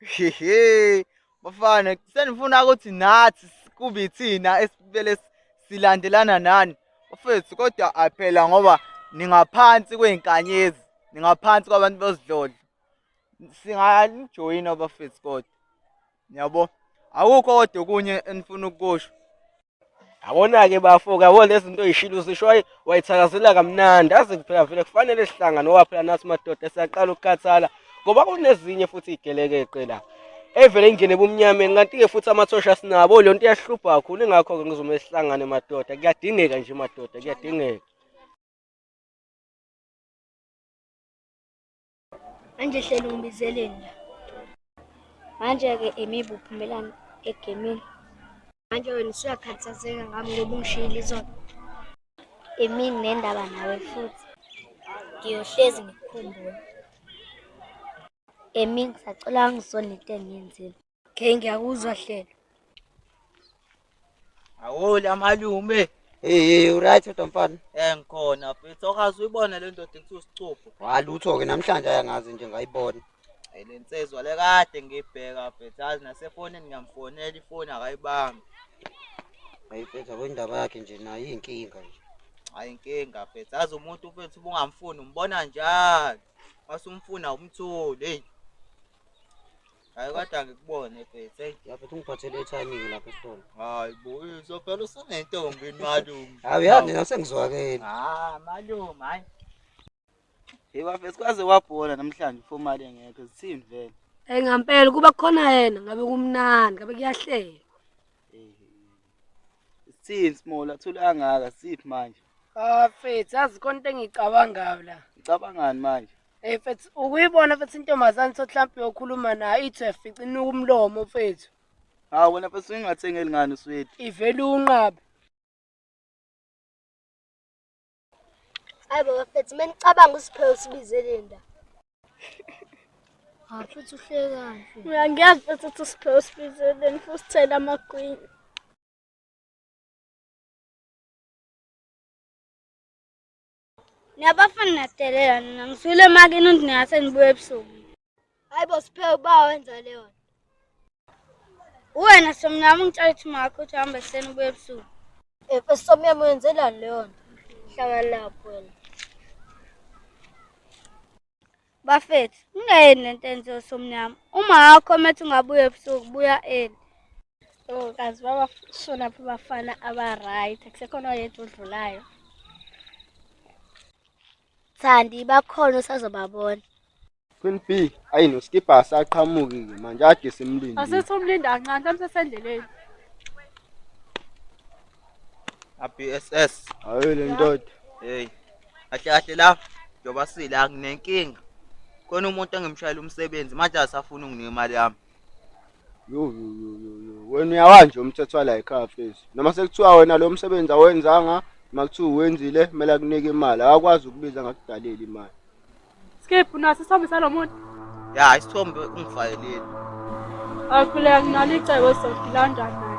Hehe. Bafana senifuna ukuthi nathi kube ithina esibele silandelana nani. Bafethu kodwa aphela ngoba ningaphansi kwey'nkanyezi ningaphansi kwabantu bezidlodlo singalijoyina bafethu kodwa niyabo akukho kodwa okunye enifuna ukukusho Yabona-ke bafo kabo lezi zinto yishilo uzisho wayi- wayithakazela kamnandi aze kuphela vele kufanele sihlangane ngoba phela nathi madoda siyaqala ukukhathala ngoba kunezinye futhi igelekeqe la evele ingene ebumnyameni kanti-ke futhi amathosha asinabo leyo nto iyahlupha kakhulu ingakho-ke ngizomele sihlangane madoda kuyadingeka nje madoda kuyadingeka Manje hleli ungibizeleni la. Manje-ke imibu uphumelani egemini. Manje wena usuyakhathazeka ngami ngoba ungishiyile izona. Emini nendaba nawe futhi. Ngiyohlezi ngikukhumbule. Emini ngisacela ungisonete engiyenzile. Okay ngiyakuzwa hlelo. Awoli amalume. Hey hey uright kodwa mfana. Eh ngikhona mfethu okazi uyibona le ndoda ekuthiwa isicupho. Walutho ke namhlanje ayangazi nje ngayibona. Hey le nsizwa le kade ngibheka mfethu azi nasefonini ngiyamfonela ifoni akayibambi. Hayi mfethu akwendaba yakhe nje nayo inkinga nje. Hayi inkinga mfethu azi umuntu mfethu ubungamfuni umbona njalo. Masumfuna umtholi hey. Hayi kodwa ngikubone mfethu. Hey. Lapho ungiphathele ethayimini lapho esitolo. Hayi bo, uzovela usunentombi malume. Hayi yazi nina sengizwakele. Ah, malume hayi. Hey bafethu kwaze wabhola namhlanje for mali engekho zithini vele. Hey ngampela kuba khona yena ngabe kumnandi, ngabe kuyahleka. Eh. Sithini small athule angaka siphi manje? Ah, mfethu, yazi konke engicabangayo la. Nicabangani manje? Hey eh, mfethu ukuyibona mfethu intombazane sothi mhlawumbe uyokhuluma nayo ithi uyafica inuka umlomo mfethu. Hawu wena mfethu ungathengeli ngani uswethi. Ivele unqabe. Hayi baba mfethu menicabanga usiphewe sibizele nda. Ha mfethu uhlekani? Uyangiyazi mfethu ukuthi usiphewe sibizele nifuthi thela amagwini. Niyabafana niyadelela nina ngisukile emakini uthi ningase nibuye ebusuku. Hayi bo siphe uba wenza leyo. Uwena somnyama ungitshela ukuthi makho uthi hamba ekuseni ubuye ebusuku. Eh somnyama wenzelani leyo nto? Hlala lapho wena. Bafethu, ngingeyeni lento enziwe somnyama. Uma akho methi ungabuye ebusuku buya eli. Oh, kazi babashona phi bafana aba-right kusekhona oyedwa odlulayo thandi bakhona usazobabona Queen B ayi noskipha asaqhamuki ke manje ade simlinde asithi umlindi kancane mhlawumbe sesendleleni abss hayi le ndoda hey kahle kahle la njengoba sila nginenkinga khona umuntu engimshayela umsebenzi manje asafuna unginika imali yami Yo, yo, yo, yo, yo. wena uyawanje umthetho wala ekhaya fesi noma sekuthiwa wena lo msebenzi awenzanga uma kuthiwa uwenzile kumele akunike imali akakwazi ukubiza ngakudalela imali Skip unaso isithombe salomuntu. ya isithombe ungifayelile Akhuleka nginalo icebo sizodilanda naye.